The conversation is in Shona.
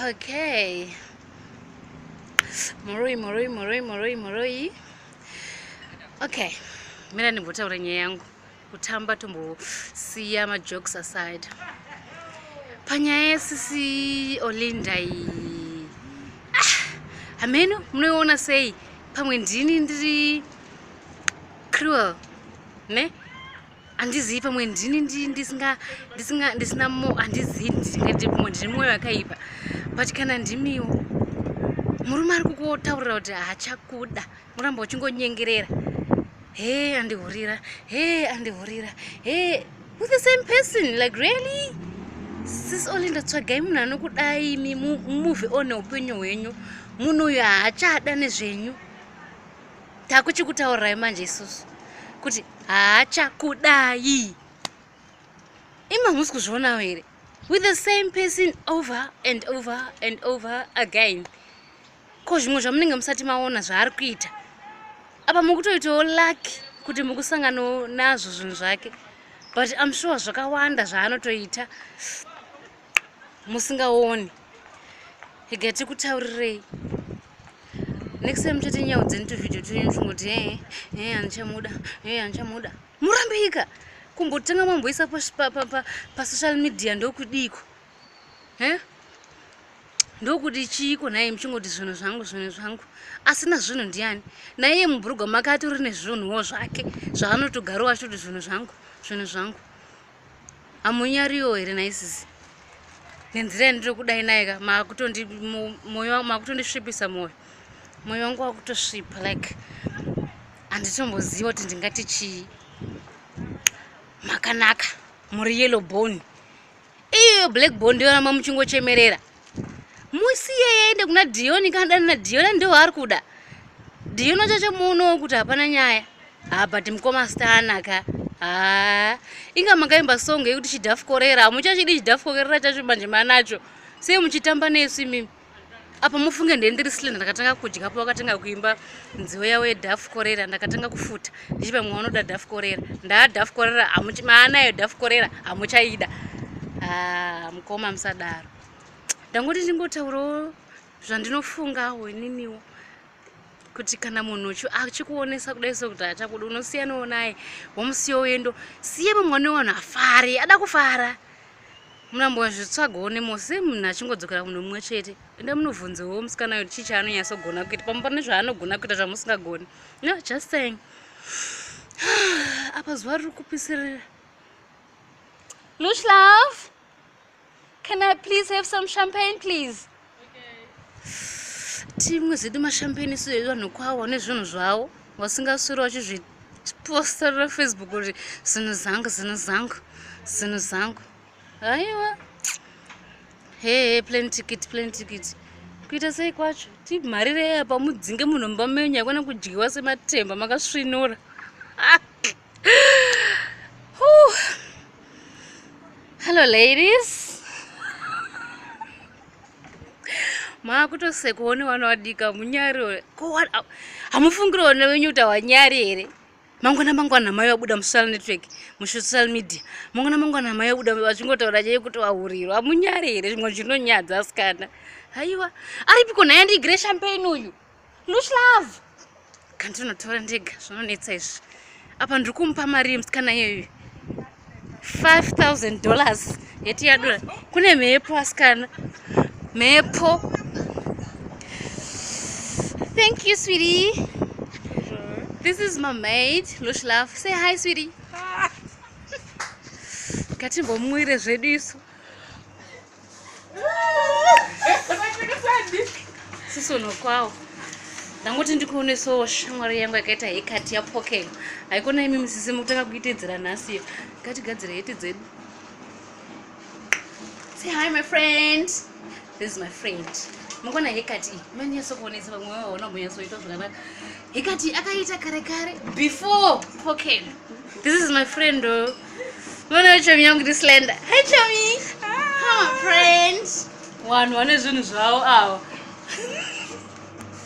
okay muroi muroi muroi muroi muroi okay mina ndimbotaura nyaya yangu kutamba tombosiya majokes aside panyaya yesisi olinda iyi ah, hameno munoiona sei pamwe ndini ndiri cruel ne handizivi pamwe ndini ndisinga ndisinga ndisina mo handizivi ndingati pamwe ndine mwoyo yakaipa but kana ndimiwo murume ari kukotaurira kuti hachakuda uramba uchingonyengerera he andihurira he andihurira he with the same person like really sis only ndatsvagai munhu anokudai mi move on neupenyu hwenyu munhu uyu haachada nezvenyu takuchikutaurirai manje isusu kuti haachakudai ima musi kuzvionawo here with the same person over and over and over again ko zvimwe zvamunenge musati maona zvaari kuita apa mukutoitawo lucky kuti mukusanganawo nazvo zvinhu zvake but im sure zvakawanda zvaanotoita musingaoni ega tikutaurirei next time chete nyau dzeni tuvideo twenyu chingoti ee eh, ee eh, andichamuda ee eh, andichamuda murambika kumbotanga mamboisa pasocial media ndokudiiko e ndokudi chiiko naye muchingoti zvinhu zvangu zvinhu zvangu asina zvinhu ndiani naiye mubhurugwa make atori nezvinhuwo zvake zvaanotogarowo achitoti zvinhu zvangu zvinhu zvangu Hamunyariwo here nhai sisi? Nenzira yandiri kudai naye ka makutondi moyo wangu makutondisvipisa moyo. Moyo wangu wakutosvipa like handitomboziva kuti ndingati chii. Makanaka muri yellow bone. Iyo black bone ndoyona mamuchingochemerera. musiye yende kuna dioni kanadana na dioni ndiwo ari kuda dioni wachacho muonowo kuti hapana nyaya ha but mukoma stanaka ha inga makaimba song yekuti chidhafukorera hamuchachidi chidhafukorera chacho manje manacho sei muchitamba nesu imimi apa mufunge ndendiri silenda ndakatanga kudya po wakatanga kuimba nziwo yavo yedhafukorera ndakatanga kufuta ndichi vamwe vanoda dhafu korera ndaa dhafu korera maanayo dhafu korera hamuchaida ah, mukoma musadaro ndangoti ndingotaurawo zvandinofungawo ininiwo kuti kana munhu achikuonesa kudai sokuti achakuda unosiyanawo naye womusiyawo yendo siye vamwe vane vanhu afari ada kufara munambozvitsvagawo nemose munhu achingodzokera kumunhu mumwe chete enda munobvunzewo musikana kuti chii chaanonyatsogona kuita pamwe pane zvaanogona kuita zvamusingagoni no just saying apa zuva riri kupisirira lush love can i please have some champagne please timwe zvedu mashampeni isu evanhu kwavo nezvinhu zvavo vasingaswiri vachizvipostarira facebook kuti zvinhu zangu zvinhu zangu zvinhu zangu haiwa hehe plan ticket plan ticket kuita sei kwacho timharire apa mudzinge munhu mumba menyu haikona kudyiwa sematemba makasvinura Hello ladies. maakutosekuone wana wadika munyari ore ko hamufungira one wenyu kuti hawanyari here mangwana mangwana mai vabuda musocial network musocial media mangwana mangwana mai vabuda vachingotaura chei kuti vahurirwa hamunyari here zvimwe zvinonyadza asikana haiwa aripiko nhaye ndigire champain uyu lush love kandinotora ndega zvinonetsa izvi apa ndiri kumupa mari yemusikana iyoyo 5000 dollars yeti yadura kune mhepo asikana mhepo thank you sweetie this is my maid lush love say hi sweetie ngatimbomuwire zvedu isu sisonokwawo ndangoti ndikuonesawo shamwari yangu yakaita hekati yapokelo haikona imi musisi mukutanga kuitedzera nhasi iyo ngatigadzire heti dzedu say hi my friend this is my friend mukona hekati iyi manyasokuonesa vamwe vavo vanogonyasoita zvakanaka hekati akaita kare kare before pokelo this is my friend o oh. Mwana chomi yangu ndi slender. Hi chomi. Hi friends. Wanhu wane zvinhu zvawo awa.